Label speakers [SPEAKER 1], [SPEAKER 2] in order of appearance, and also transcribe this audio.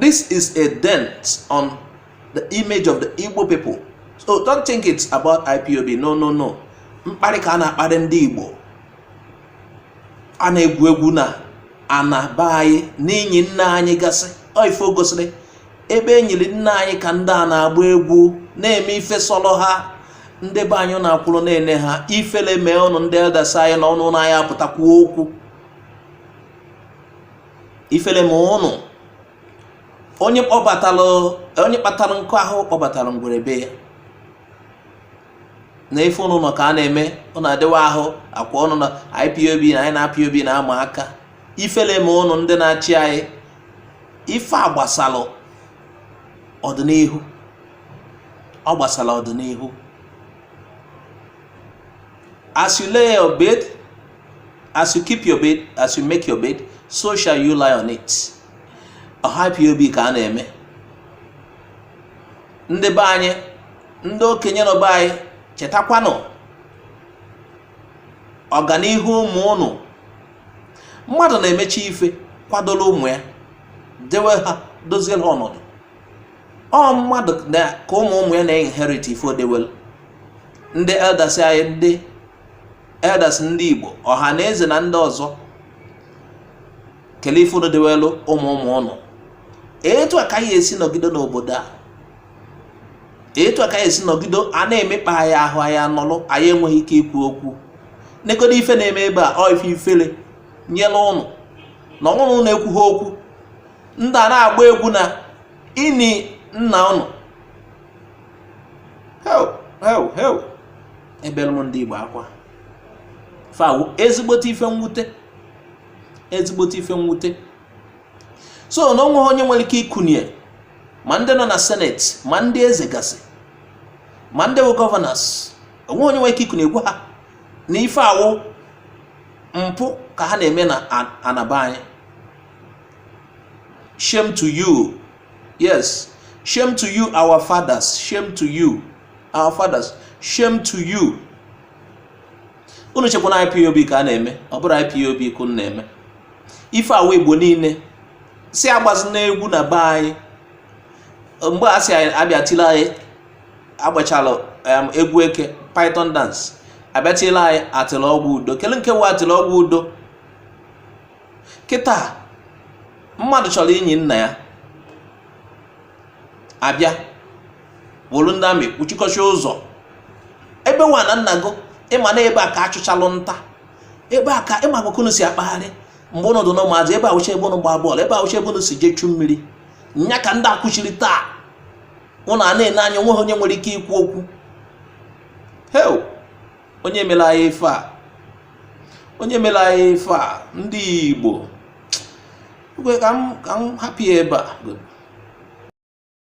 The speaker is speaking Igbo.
[SPEAKER 1] this is a dent on the image of the Igbo people so don't think it's about IPOB no no no mkparị ka a na-akparị ndị Igbo a na-egwu egwu na ana be anyị n'inyi nna anyị gasị ife gosiri ebe e nyiri nna anyị ka ndị a na-agba egwu na-eme ife sọrọ ha ndị be anyị na-akwụrụ na-ene ha ifele mee ụnụ ndị elders anyị na ụnụ na anyị apụta kwuo okwu ifele mee ụnụ onye kpatara nkụ ahụ kpọbatara ngwere be ya na ife ụnụ nọ ka a na-eme ọ na-adịwa ahụ akwa ọnụ na IPOB na anyị na IPOB na-ama aka ifele mee ụnụ ndị na-achị anyị ife a gbasara ọdịnihu ọ gbasara ọdịnihu as you lay your bed as you keep your bed as you make your bed so shall you lie on it ọ họ IPOB ka a na-eme ndị be anyị ndị okenye nọ be anyị chetakwanụ ọganihu ụmụ ụnụ mmadụ na-emechi ife kwadolu ụmụ ya dewe ha dozie ha ọnọdụ ọ mmadụ ka ụmụ ụmụ ya na-inherit ife o dewelu ndị elders anyị ndị elders ndị Igbo ọha na eze na ndị ọzọ kelee ife unu dewelu ụmụ ụmụ ụnụ etu a ka anyị esi nọgide n'obodo a etu a ka anyị esi nọgide a na-emekpa anyị ahụ anyị anọlụ anyị enweghị ike ikwu okwu negodo ife na-eme ebe a ọ ife ifele nyere ụnụ na ọnwụrụ ụnụ ekwughị okwu ndị a na-agba egwu na ini nna ụnụ ebelu m ndị Igbo akwa ife a wụ ezigbote ife mwute ezigbote ife mwute so na o nweghị onye nwere ike ikunye ma ndị nọ na senate ma ndị eze gasị ma ndị wụ governors o nweghị onye nwere ike ikunye gwa ha na ife a wụ mpụ ka ha na-eme na ana be anyị shame to you yes shame to you our fathers shame to you our fathers shame to you unu chekwa na IPOB ka a na-eme ọ bụrọ IPOB ka unu na-eme ife a wụ Igbo niile si agbazi n'egwu na be anyị mgbe a si abịa tile anyị agbachalụ egwu eke python dance abịa tile anyị Atilogwu Udo kelee nke wụ Atilogwu Udo kịta mmadụ chọrọ inyi nna ya abịa wolu ndị army kpuchikọchie ụzọ ebe wụ ana nna gụ ị ma na ebe a ka a chụchalụ nta ebe a ka ị ma ka ụnụ si akpagharị mgbe ụnụ dị na ụmụazị ebe a wụcha ebe ụnụ gbaa bọọlụ ebe a wụcha ebe ụnụ si jee chu mmiri nya ka ndị a kwụchiri taa ụnụ ana-ene anya o nweghị onye nwere ike ikwu okwu hee o onye mere anyị ife a onye mere anyị ife a ndị Igbo ka m hapụ ya ebe a